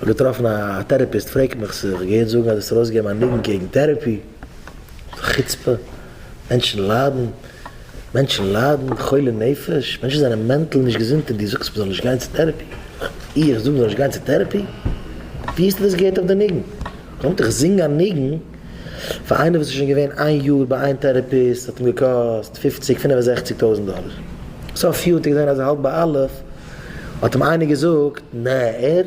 כ'האב געטראפן א טערעפיסט פרעגט מיך צו איך געהערט זאגן אז דאס ארויסגעבן א ניגון קעגן טערעפי איז א חוצפה, מענטשן ליידן, מענטשן ליידן, חולי נפש, מענטשן זענען מענטל נישט געזונט און דו זאגסט מ'זאל נישט גיין צו טערעפי? איך זאג מ'זאל נישט גיין צו טערעפי? ווי האסטו דאס געהערט אויף די ניגון? קומט איך זינג א ניגון פאר איינער וואס איז שוין געווען איין יאר ביי איין טערעפיסט האט אים געקאסט פופציג פינף און זעכציג טויזנט דאלער סוף יאר האט ער געזען אז ער האלט ביי אלף האט אים איינער געזאגט, נע, ער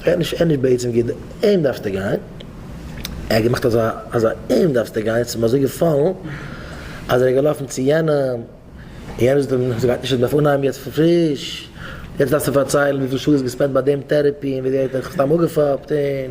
רעדט נישט, ער איז נישט בעצם גוט, אים דארפסטו גיין. ער האט געמאכט אזא אזא אים דארפסטו גיין, ס'איז אים אזוי געפאלן, אז ער איז געלאפן צו יענעם, און יענער זאגט אים, ס'גייט נישט, ער דארף אנהייבן יעצט פון פריש, יעצט דארפסטו פארציילן וויפיל שעה דו האסט געספענדט ביי דעם טערעפי, און וויאזוי ער האט דיך סתם אפגעפאפט, און.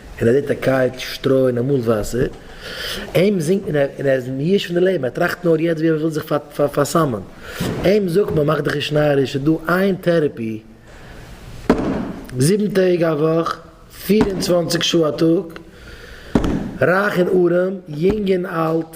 און ער זעט א קייט, שטרוי און אמאל וואסער. אים זינגט מען און ער איז מיואש פון די לעבן, ער טראכט נאר יעצט ווי ער וויל זיך פארסאמען. אים זאגט מען מאך דיך נישט נאריש, ס'איז דא איין טערעפי זיבן טעג א וואך, פֿיר און צוואַנציק שעה א טאג, רייך און ארעם, יונג און אלט.